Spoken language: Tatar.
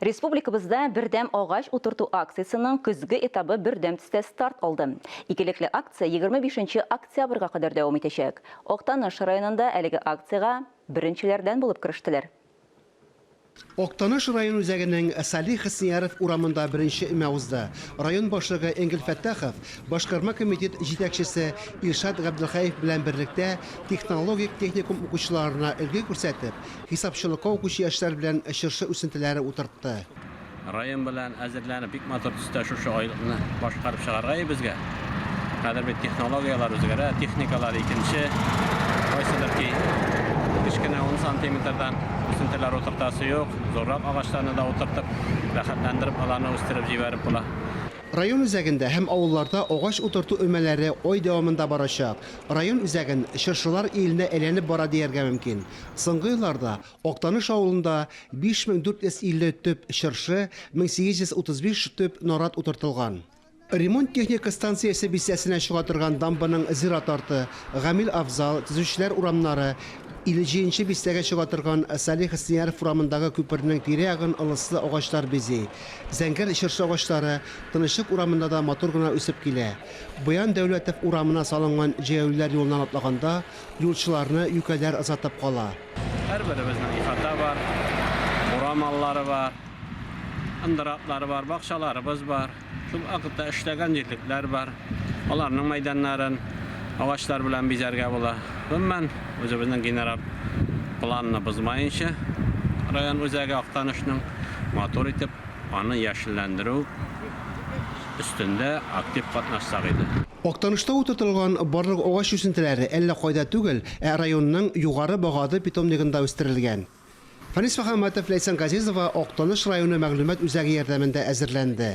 Республикабызда Бердәм агач утырту акциясенең көзге этабы бердәм төстә старт алды. Икелекле акция егерме бишенче октябрьгә кадәр дәвам итәчәк. Актаныш районында әлеге акциягә беренчеләрдән булып керештеләр. Актаныш район үзәгенең Салих Хөснияров урамында беренче өмә узды. Район башлыгы Энгель Фәттахов башкарма комитет җитәкчесе Илшат Габделхәев белән берлектә технологик техникум укучыларына өлге күрсәтеп, Хисапчылыкка укучы яшьләр белән чыршы үсентеләре утыртты. Район белән әзерләнеп, бик матур төстә шушы айлыкны башкарып чыгарга өебезгә. Хәзер бит технологияләр үзгәрә, техникалар икенче. Кайсыдыр ки, кечкенә ун сантиметрдан үсентеләр утыртасы юк, зуррак агачларны да утыртып, рәхәтләндереп аларны үстереп җибәреп була. Район үзәгендә һәм авылларда агач утырту өмәләре ай дәвамында барачак. Район үзәген чыршылар иленә әйләнеп бара дияргә мөмкин. Соңгы елларда Актаныш авылында 5450 төп чыршы, 1835 төп нарат утыртылган. Ремонт-техника станциясе бистәсенә чыга торган дамбаның зират арты, Гамил Афзал, Төзүчеләр урамнары, 57 нче бистәгә чыга торган Салих Снеяров урамындагы күпернең тирә-ягын ылыслы агачлар бизи. Зәңгәр чыршы агачлары Тынычлык урамында да матур гына үсеп килә. Боян Дәүләтов урамына салынган җәяүлеләр юлыннан атлаганда, Юлчыларны юкәләр озатып кала. Һәрберебезнең ихата бар, бура маллары бар, ындыр атлары бар, бакчаларыбыз бар. Шул вакытта эшләгән җирлекләр бар. Аларның мәйданнарын агачлар белән бизәргә була. Гомумән, үзебезнең генераль планны бозмаенча, район үзәге Актанышның матур итеп аны яшелләндерү, өстендә актив катнашсак иде. Актанышта утыртылган барлык агач үсентеләре әллә кайда түгел, ә районның Югары Багады питомнигында үстерелгән. Фанис Мөхәммәтов, Ләйсән Газизова Актаныш районы мәгълүмат үзәге ярдәмендә әзерләнде.